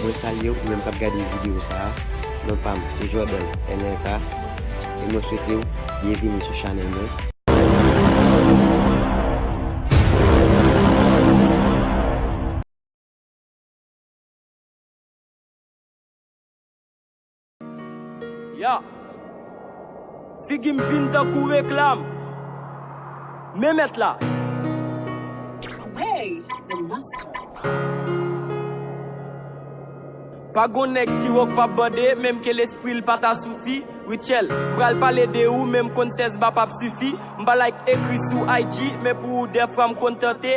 Mwen salyew pou menm kap gade video sa a non pam se Jordan MRK e mwen swetew byenvini sou chanèl mwen. Yeah Figi m vin tankou reklam Men mèt la Away The Master Pa gon nèg ki wo k pap bande Menm ke lespri l pa ta soufi Rutshelle M pral pale de ou men m konn 16 ba pap sifi M pa like ekri sou IG Men pou ou dèfwa m kontante